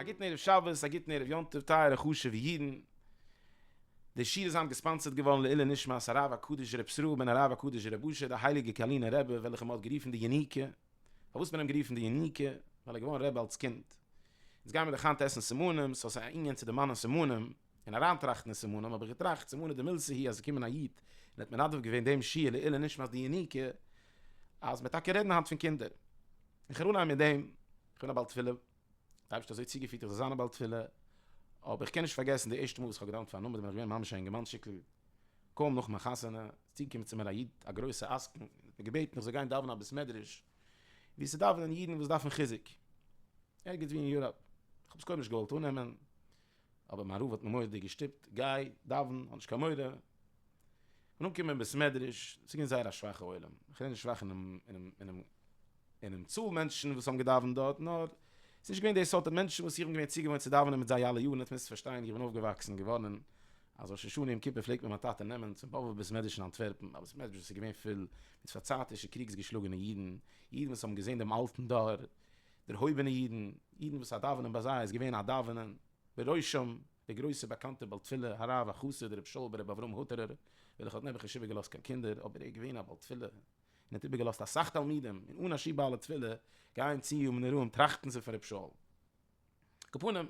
א גוטן ערב שבת, א גוטן ערב יום טוב טייערע חשוב'ע אידן. די שיעור איז היינט געספאנסערט געווארן לעילוי נשמת הרב הקדוש ר' ישראל בן הרב הקדוש ר' אשר די הייליגע קארלינער רבי וועלכע מען האט גערופן די יוניקע. פארוואס האט מען אים גערופן די יוניקע? ווייל ער איז געווארן רבי אלס קינד. אונז גייען מיר דאך היינט עסן סימנים, סאו ס'איז א ענין צו דערמאנען סימנים. און אריין טראכטן אין סימנים האב איך געטראכט סימני דמילסא הי' אז געקומען א איד און האט מנדב געווען דעם שיעור לעילוי נשמת די יניקה אז מען טאקע רעדן היינט פון קינדער איך הער אנהייב מיט דעם איך בין א בעל תפילה די אייבערשטער האט אזוי צוגעפירט איך זאל זיין א בעל תפילה אבער איך קען נישט פארגעסן די ערשטע מאל וואס איך האב געדאוונט פאר א נומער בין איך געווען ממש א אינגערמאנטשיקל קוים נאך מיין חתונה איז צוגעקומען צו מיר א איד א גרויסע עסקן און האט מיר געבעטן איך זאל גיין דאווענען א בית מדרש וואו ס'דאווענען אידן וואס דארפן חיזוק ערגעץ וואו אין יוראפ איך האב עס קודם נישט געוואלט אננעמען. אבער מיין רב האט מיר מורא'דיג געשטופט, גיי, דאווען, האב נישט קיין מורא. איך בין אנגעקומען אין בית מדרש, ס'איז געווען זייער א שוואכע עולם, איך רעד נישט שוואך אינעם צאל מענטשן וואס האבן געדאווענט דארט, נאר ס'איז נישט געווען די סארט מענטשן וואס איך בין געווען צוגעוואוינט צו דאווענען מיט זיי אלע יארן, אונז מוזט פארשטיין, איך בין אויפגעוואקסן געווארן אז ראש השנה יום כיפור פלעגט מיר מיין טאטע נעמען צום באבוב בית מדרש אין אנטווערפן, א בית מדרש וואס איז געווען פול מיט פארצייטישע קריגס געשלאגענע אידן, אידן וואס האבן געזען דעם אלטן דור, דערהויבענע אידן, אידן וואס א דאווענען ביי זיי איז געווען א דאווענען, בראשם דער גרויסער באקאנטער בעל תפילה הרב החסיד ר' שאול ב ר אברהם הוטערער, וועלכער האט נעבעך נישט איבערגעלאזט קיין קינדער, אבער ער איז געווען א בעל תפילה, און האט איבערגעלאזט אסאך תלמידים, און אנ ש בעלי תפילה גייען צו ימים נוראים טראכטן זיך פון ר' שאול. כפנים,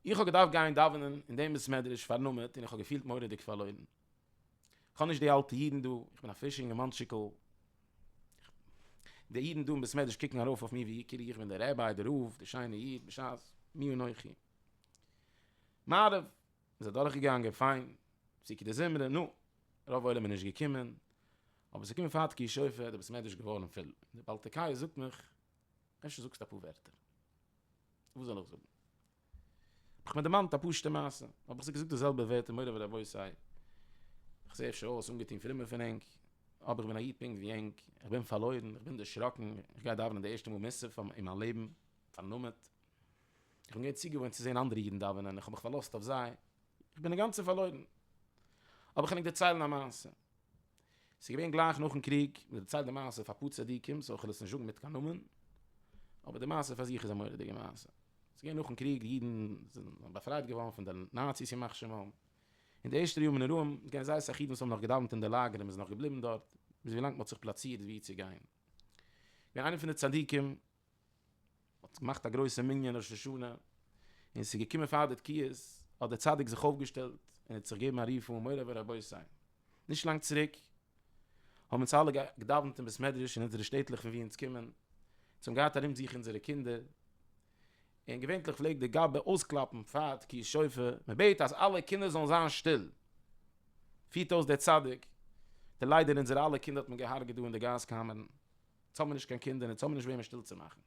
איך האב געדארפט גיין דאווענען אין דעם בית מדרש פארנומעט און איך האב געפילט מורא'דיג פארלוירן. כ'האב נישט די אלטע אידן דא, איך בין א פרישע אינגערמאנטשיקל. די אידן דא אין בית מדרש קוקן ארויף אויף מיר ווי כאילו איך בין דער רבי, דער רב, דער שיינער איד, בשעת מי אנכי. מעריב איז אדורכגעגאנגען פיין, פסוקי דזמרה, נו, רוב עולם איז נישט געקומען, אבער ס'איז געקומען פאר תקיעת שופר, דער בית מדרש איז געווארן פול. די בעל תקיה זאגט מיך, אפשר זאגסטו אפאר ווערטער. וואס זאל איך זאגן? האב איך מיר דערמאנט א פשוטע מעשה, האב איך זיך געזאגט די זעלבע ווערטער מורי ורבותי, איך זע אפשר אויס אנגעטון פרומער פון ענק, אבער איך בין א איד פונקט ווי ענק, איך בין פארלוירן, איך בין דערשראקן, איך גיי דאווענען די ערשטע מאל מוסף אין מיין לעבן, פארנומעט, איך בין געווען צוגעוואוינט צו זען אנדערע אידן דאווענען, איך האב מיך פארלאזט אויף זיי, איך בין אינגאנצן פארלוירן. האב איך ענק דערציילן א מעשה. ס'איז געווען גלייך נאכן קריג, מ'האט דערציילט די מעשה פאר אפאר צדיקים, סאו כ'על עס נישט זאגן מיט קיין נאמען, אבער די מעשה פאר זיך איז א מורא'דיגע מעשה. ס'איז געווען נאכן קריג, די אידן זענען באפרייט געווארן פון די נאציס ימח שמם. אין די ערשטע ימים אין ארום, איז געווען זייער אסאך אידן וואס האבן נאך געדאוונט אין די לאגער און מ'איז נאך געבליבן דארט, ביז ווילאנג מ'האט זיך פלאצירט וואו צו גיין. איז געווען איינער פון די צדיקים, מ'האט געמאכט א גרויסע מנין ראש השנה, און ס'איז געקומען פאר די תקיעות, האט דער צדיק זיך אויפגעשטעלט און האט זיך געגעבן א רוף אן מורא ורבותי. נישט לאנג צוריק האבן אונז אלע געדאווענט אין בית מדרש אין אונזערע שטעטלעך פון וואו אונז קומען, אונז האבן געהאט ארום זיך אונזערע קינדער, און געווענטליך פלעגט דער גאב ד אויסקלאפן פאר תקיעות שופר, מ'בעט אז אלע קינדער זאלן זיין שטיל, פירט אויס דער צדיק, די ליידער אונזערע אלע קינדער האט מען געהארגעט דא אין די גאז קאמערן. יעצט האבן מיר נישט קיין קינדער און יעצט האבן מיר נישט וועמען שטיל צו מאכן.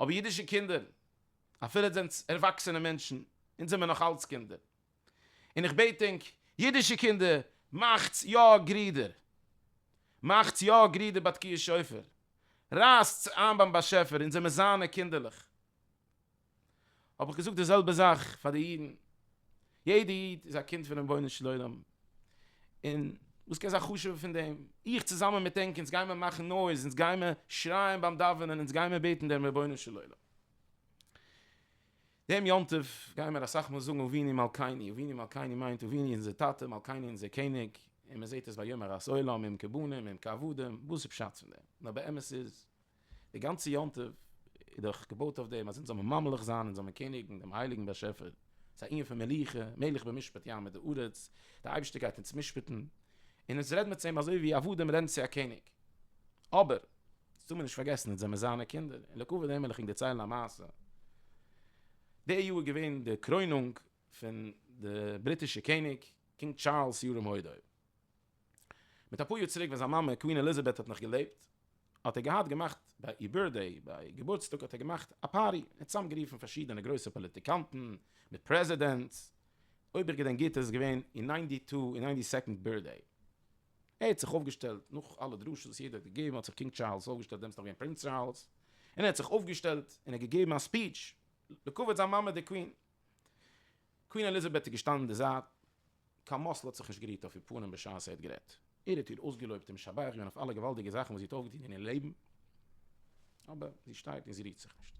אבער אידישע קינדער, אפילו יעצט זענטס ערוואקסענע מענטשן, אונז זעמיר נאך אלץ קינדער. און איך בעט ענק, אידישע קינדער, מאכטס יא גרידער. מאכטס יא גרידער ביי תקיעת שופר. רייסטס איין ביים באשעפער, אונז זעמיר זיינע קינדערלעך. האב איך געזאגט די זעלבע זאך פאר די אידן, יעדע איד איז א קינד פון רבונו של עולם, און וואס קען זיין חשוב'ער פון דעם, איך צוזאמען מיט ענק אונז גיימער מאכן נויז, אונז גיימער שרייען ביים דאווענען, אונז גיימער בעטן דעם רבונו של עולם. דעם יום טוב גיימער אסאך מאל זאגן אבינו מלכינו, אבינו מלכינו מיינט אבינו אונזער טאטע, מלכינו אונזער קעניג, און מען זעט עס ביי יום הרת עולם, יום כיבודים, יום כעבודים, וואס איז פשט פון דעם? נאר באמת איז די גאנצע יום טוב איז דאך געבויט אויף דעם אז אונז זאל מען ממליך זיין, אונז זאל מען קעניגן דעם הייליגן באשעפער, ס'איז א ענין פון מלוכה, מלך במשפט ים את הארץ, דער אייבערשטער גייט אונז משפט'ן, און אונז רעדן מיר צו אים אזוי ווי עבדים רעדן צו א קעניג. אבער, עס טאר מען נישט פארגעסן, אונז זעמיר זיינע קינדער, און לכבוד דעם וויל איך ענק דערציילן א מעשה. די יאר איז געווען די קרוינונג פון די בריטישע קעניג, קינג טשארלס ירום הודו. מיט אפאר יאר צוריק ווען זיין מאמע קווין עליזאבעט האט נאך געלעבט, האט ער געהאט געמאכט ביי איר בירטדעי, ביי געבורטסטאג האט ער געמאכט א פארטי, און צוזאם גערופן פארשידענע גרויסע פאליטיקאנטן, מיט פרעזידענטס, אויב איך געדענק גוט איז עס געווען איר ניינטי טו און ניינטי סעקאנד בירטדעי, ער האט זיך אויפגעשטעלט, נאך אלע דרשות וואס יעדער האט געגעבן, האט זיך קינג טשארלס אויפגעשטעלט, דעמאלס נאך געווען פרינץ טשארלס, און ער האט זיך אויפגעשטעלט און ער האט געגעבן א ספיטש לכבוד זיין מאמע די קווין. קווין עליזאבעט איז געשטאנען אין די זייט, קיין מזל האט זיך נישט גערירט אויף איר פנים בשעת זי האט גערעדט, ער האט איר אויסגעלויבט און משבח געווען אויף אלע געוואלדיגע זאכן וואס זי האט אויפגעטון אין איר לעבן, אבער זי שטייט און זי רירט זיך נישט.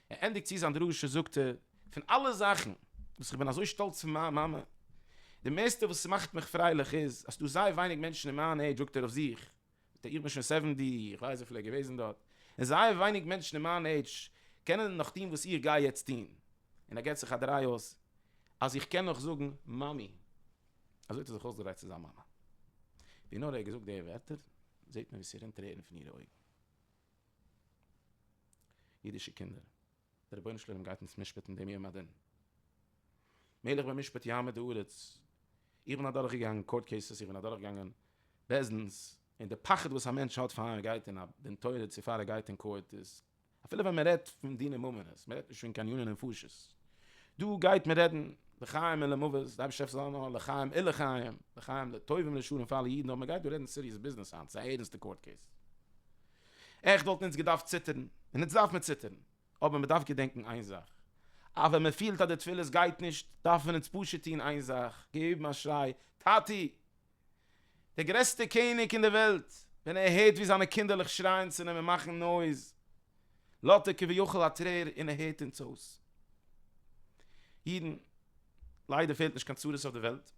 ער ענדיגט צו זיין דרשה זאגט ער, פון אלע זאכן וואס איך בין אזוי שטאלץ פון מיין מאמע, די מערסטע וואס ס'מאכט מיך פרייליך איז אז ס'דא זייער ווייניג מענטשן אין מיין עידזש זאגט ער אויף זיך, מיט א איך בין שוין סעווענטי, איך ווייס וויפיל ער איז געוועזן דארט, און זייער ווייניג מענטשן אין מיין עידזש קענען נאך טון וואס איך גיי יעצט טון, און ער געבט זיך א דריי אויס אז איך קען נאך זאגן מאמי, אזוי האט ער זיך אויסגעדרייט צו זיין מאמע, ווי נאר ער האט געזאגט די ווערטער זעט מען ווי ס'רינט טרערן פון אירע אויגן. אידישע קינדער. דער רבונו של עולם גייט אונז משפט'ן דעם יום הדין. מלך במשפט יעמוד הארץ. איך בין אדורך געגאנגען קאורט קעיסעס, איך בין אדורך געגאנגען בית דין'ס, און די פחד וואס א מענטש האט פאר ער גייט אין א דין תורה צו פאר ער גייט אין קאורט איז, אפילו ווען מען רעדט פון דיני ממונות, מען רעדט נישט פון קיין עניני נפשות, דא גייט מען רעדן לחיים און למוות, די אייבערשטער העלף זיי זאל זיין לחיים און לחיים, לחיים לטוב און לשון פאר אלע אידן, אבער מען גייט דא רעדן סיריעס ביזנעס היינט, ס'איז א ערענסטע קאורט קעיס. עכט וואלטן אונז געדארפט ציטערן, און אונז דארף מען ציטערן, אבער מען דארף געדענקן איין זאך, אז ווען מען פילט אז די תפילות גייט נישט, דארפן אונז פשוט טון איין זאך, געבן א שריי, טאטי! דער גרעסטער קעניג אין די וועלט, ווען ער הערט ווי זיינע קינדערלעך שרייען צו אים און מאכן נויז, לאזט ער כביכול א טרער און ער הערט אונז אויס. אידן, ליידער פעלט נישט קיין צרות אויף די וועלט.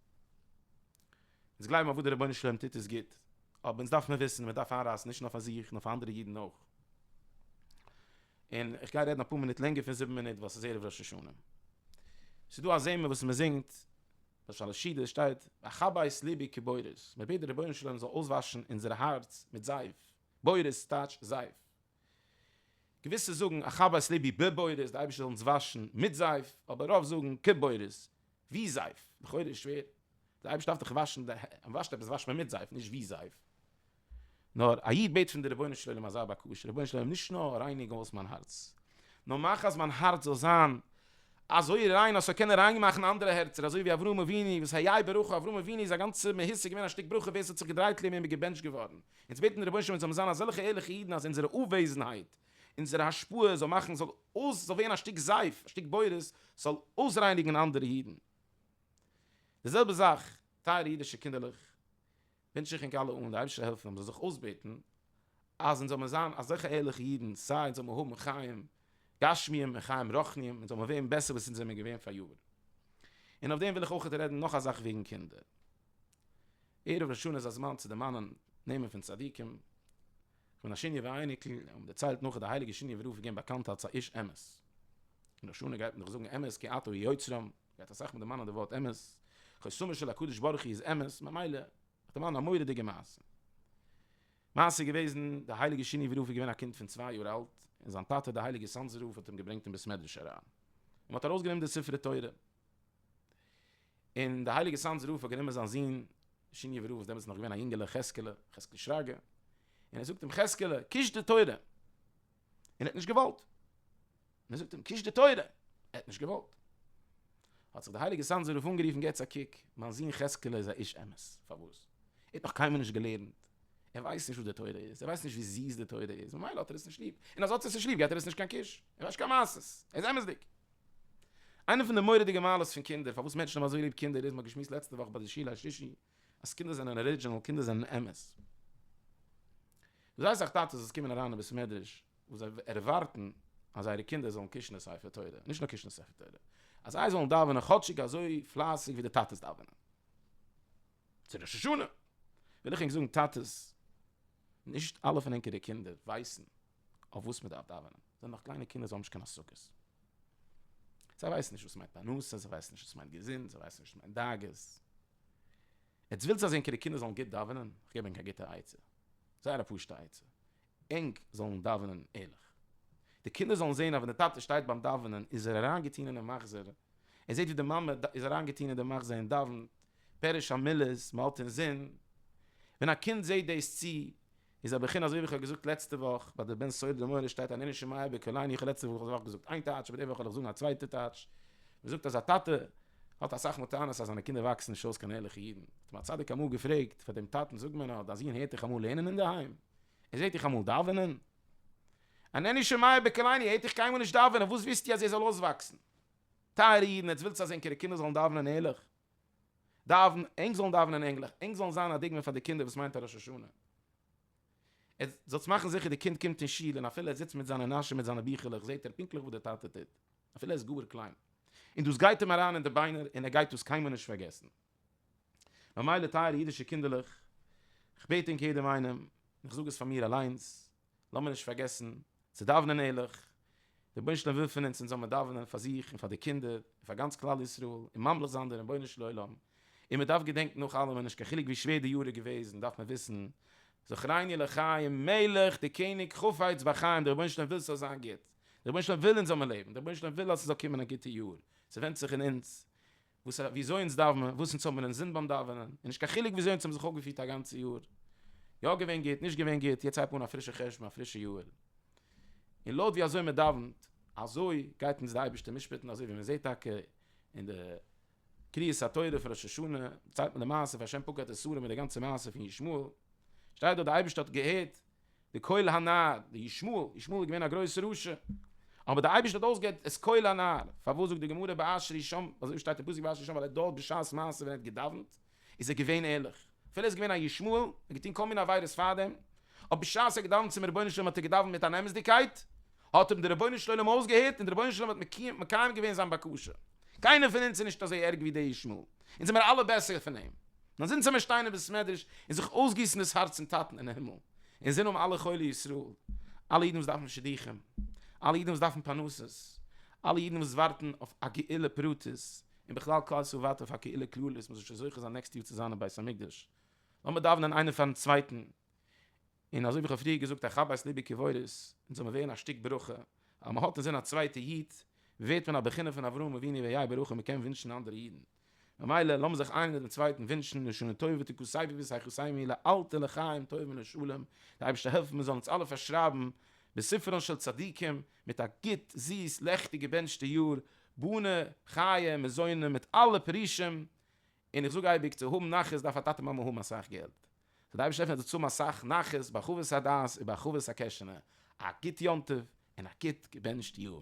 אונז גלייבן אז וואס דער רבונו של עולם טוט איז גוט, אבער אונז דארף מען וויסן אז מען דארף איינרייסן נישט נאר פאר זיך נאר פאר אנדערע אידן אויך. און איך גיי רעדן אפאר מינוט לענגער פון זיבן מינוט ווייל עס איז ערב ראש השנה. עס איז דא א זמר וואס מען זינגט, למשל אין סידור שטייט, ואכבה את לבי כבורות, מען בעט דער רבונו של עולם זאל אויסוואשן אונזער הארץ מיט זייף, בורות טייטש זייף. געוויסע זאגן אכבה את לבי בבורות, דער אייבערשטער זאל אונז וואשן מיט זייף, אבער רוב זאגן כבורות, ווי זייף, לכאורה איז שווער, די אייבערשטער דארף דאך וואשן די הענט, אויב מ'וואשט עפעס וואשט מען מיט זייף נישט ווי זייף. נאר א איד בעט פון די רבונו של עולם אזא בקשה, רבונו של עולם נישט נאר רייניג אויס מיין הארץ, נאר מאך אז מיין הארץ זאל זיין אזוי ריין אז ס'זאל קענען ריין מאכן אנדערע הערצער אזוי ווי אברהם אבינו וואס ה י ברכו אברהם אבינו איז א גאנצע מהות איז געווען א שטיק ברכו ווער ס'האט זיך געדרייט לעם אים איז געבענטשט געווארן. אונז בעטן די רבונו של עולם מיר זאלן זיין אזעלכע ערליכע אידן אז אונזערע אוועזנהייט אונזערע השפעה זאל מאכן זאל אויס זאל ווערן א שטיק זייף א שטיק בורות זאל אויסרייניגן אנדערע אידן די זעלבע זאך טייערע אידישע קינדערלעך ווינטש איך ענק אלע אן די אייבישטער העלפן אונז זיך אויסבעטן אז אונז זאל מען זיין אזעלכע ערליכע אידן סיי אונז זאל מען האבן חיים גשמיים און חיים רוחניים אונז זאל מען ווערן בעסער וואס אונז זעמער געווען פאריאר און אויף דעם וויל איך אויכעט רעדן נאך א זאך וועגן קינדער ערב ראש השנה איז א זמן צו דערמאנען נעמען פון צדיקים. פון א שיניעווע אייניקל האט מען דערציילט נאך אז די הייליגע שיניעווע רב איז געווען באקאנט אלס א איש אמת. אין ראש השנה גייט מען דאך זאגן אמת כי אתה הוא יוצרם, גייט אסאך מיט די מאן און די ווארט אמת. חותמו של הקדוש ברוך הוא איז אמת, ממילא האט די מאן א מורא'דיגע מעשה. מעשה איז געוועזן, די הייליגע שיניעווע רב איז געווען א קינד פון צוויי יאר אלט, און זיין טאטע די הייליגע סאנזער רב האט אים געברענגט אין בית מדרש אריין, און מען האט ארויסגענומען די ספרי תורה, און די הייליגע סאנז רב האט גענומען זיין זון שיניעווער רב וואס דעמאלטס איז נאך געווען א יונגעלע חזקעלע, חזקל שרגא, און ער זאגט אים חזקעלע קיש די תורה, און ער האט נישט געוואלט, און ער זאגט אים קיש די תורה, ער האט נישט געוואלט, האט זיך די הייליגע סאנזער רב אנגערופן געטס א קוק, מיין זון חזקעלע איז א איש אמת, פארוואס? ער האט נאך קיינמאל נישט געלערנט, ער ווייסט נישט וואס די תורה איז, ער ווייסט נישט ווי זיס די תורה איז, ממילא האט ער עס נישט ליב, און אז ער האט עס נישט ליב געבט ער עס נישט קיין קיש, ער ווייסט נישט קיין מעשות, ער איז אמת'דיג. איינע פון די מורא'דיגע מעלות פון קינדער, פארוואס מענטשן האבן אזוי ליב קינדער איז, מען האט געשמועסט לעצטע וואך ביי די שיעור השלישי, אז קינדער זענען ארידזשינעל, קינדער זענען אמת. זייער אסאך טאטעס וואס קומען אריין אין בית המדרש, וואס זיי ערווארטן אז זייערע קינדער זאלן קושן די ספר תורה, נישט נאר קושן די ספר תורה, אז זיי זאלן דאווענען כאטשיג אזוי פלייסיג ווי די טאטעס דאווענען. צו ראש השנה וויל איך ענק זאגן טאטעס, נישט אלע פון ענקערע קינדער ווייסן, אויף וואס מען דארף דאווענען, זיי זענען נאך קליינע קינדער, זיי האבן נישט קיין השגות, זיי ווייסן נישט וואס מיינט פרנסה, זיי ווייסן נישט וואס מיינט געזונט, זיי ווייסן נישט וואס מיינט דאגות, יעצט ווילסט אז ענקערע קינדער זאלן גוט דאווענען, איך געב ענק א גוטע עצה, זייער א פשוטע עצה, ענק זאלן דאווענען ערליך, די קינדער זאלן זען אז ווען די טאטע שטייט ביים דאווענען איז ער אריינגעטון אינעם מחזור, ער זעט ווי די מאמע איז אריינגעטון אין די מחזור און דאווענט, פירוש המילות, מען האלט אינזין, ווען א קינד זעט דאס צי איז א בחינה אזוי ווי איך האב געזאגט לעצטע וואך ביי די בן סעודה די מוהרא ש שטייט ענני שמיה בקולני איך האב לעצטע וואך געזאגט איין טייטש אבער די וואך וועל איך זאגן א צווייטע טייטש מען זאגט אז א טאטע האט אסאך מתנות אז זיינע קינדער וואקסן נישט אויס קיין ערליכע אידן האט אים א צדיק אמאל געפרעגט פאר דעם טאטן זאג מיר נאר דיין זון הערט דיך אמאל לערנען אינדערהיים? ער זעט דיך אמאל דאווענען? ענני שמיה בקולני ער הערט דיך קיינמאל נישט דאווענען וואס ווילסטו אז ער זאל אויסוואקסן טייערע אידן עטס ווילטס אז ענקערע קינדער זאלן דאווענען ערליך? דאווען, ענק זאלן דאווענען ענגליך, ענק זאלן זיין א דוגמא פאר די קינדער וואס מיינט א ראש השנה. עטס זאלטס מאכן זיכער די קינד קומט אין שול און אפילו ער זיצט מיט זיינע נאשען מיט זיינע ביכלעך זעט ער פונקטליך וואס די טאטע טוט, אפילו ער איז גאר קליין, און דאס גייט אים אריין אין די ביינער און ער גייט דאס קיינמאל נישט פארגעסן. ממילא טייערע אידישע קינדערלעך, איך בעט ענק יעדעם איינעם, און איך זאג עס פאר מיר אליינס, לאמיר נישט פארגעסן צו דאווענען ערליך, דער רבונו של עולם וויל פון אונז אונז זאל מיר דאווענען פאר זיך און פאר די קינדער און פאר גאנץ כלל ישראל און ממליך זיין די רבונו של עולם, און מען דארף געדענקן נאך אלעמען נישט קיין חילוק ווי שווער די יאר איז געוועזן דארף מען וויסן זכרני לחיים מלך די קעניג חפץ בחיים די רבונו של עולם וויל ס'זאל זיין גוט די רבונו של עולם וויל אונז זאל מען לעבן די רבונו של עולם וויל אז ס'זאל קומען א גוטע יאר ס'ווענדט זיך אין אונז וואס א וויאזוי אונז דארף מען וואס אונז האבן מיר אינזין ביים דאווענען, און נישט קיין חילוק וויאזוי אונז האבן זיך אויפגעפירט א גאנצע יאר, יא געווען גוט, נישט געווען גוט, יעצט הייב אן א פרישע חשבון, א פרישע יאר, און לויט ווי אזוי מען דאווענט, אזוי גייט אונז די אייבערשטער משפט'ן, אזוי ווי מען זעט טאקע אין די קריאת התורה פון ראש השנה, דערציילט מען די מעשה פון השם פוקד את סדום און די גאנצע מעשה פון ישמעאל, שטייט דארט די אייבערשטער האט געהערט די קול הנער, די ישמעאל, ישמעאל איז געווען א גרויסע רשע, אבער די אייבערשטער האט אויסגעהערט את קול הנער, פארוואס זאגט די גמרא באשר ישמע, אזוי ווי שטייט אין פסוק באשר ישמע ווייל ער האט דארט בשעת מעשה ווען ער האט געדאווענט איז ער געווען ערליך, אפילו ער איז געווען א ישמעאל, ער האט געטון כל מיני עבירות פארדעם, אבער בשעת ער האט געדאווענט צום רבונו של עולם האט ער געדאווענט מיט אן אמת'דיגקייט, האט אים דער רבונו של עולם אויסגעהערט און דער רבונו של עולם האט מקיים געווען זיין בקשה. קיינער פון אונז איז נישט אזוי ערג ווי דער ישמעאל, אונז זעמיר אלע בעסער פון אים. נאר זינט זעמיר שטיין אין בית מדרש און זיך אויסגיסן דאס הארץ צום טאטן אין הימל, אונז זענען אום אלע חולי ישראל, אלע אידן וואס דארפן שידוכים, אלע אידן וואס דארפן פרנסות, אלע אידן וואס ווארטן אויף א גאולה פרטית, און בכלל כלל ישראל ווארט אויף א גאולה כללית, מ'זאל שוין זוכה זיין נעקסט יאר צו זיין אין בית המקדש, לאמיר דאווענען איינער פארן צווייטן. און אזוי ווי איך האב פריער געזאגט א חבית ליבע קברות און זאל מען ווערן א שטיק ברכה אז מען האט אינזין א צווייטע איד ווערט מען א בחינה פון אברהם אבינו ויהי ברכה מען קען ווינטשן אנדערע אידן ממילא לאמיר זיך איינער דעם צווייטן ווינטשן לשנה טובה ותיקו סייפי וסייחו סיימי לאלתר לחיים טובים ולשלום דער אייבערשטער העלפן מען זאל אונז אלע פארשרייבן בספרן של צדיקים מיט א גוט זיס לעכטיג געבענטשטע יאר בונה חיי מזונות מיט אלע פרישים און איך זאג אייביג, צו האבן נחת דארף א טאטע מאמע האבן אסאך געלט. סאו די אייבערשטער עפענט אונז צאם אסאך נחת, בהרחבת הדעת, ובהרחבת הקעשענע. א גוט יום טוב, און א גוט געבענטשט יאר.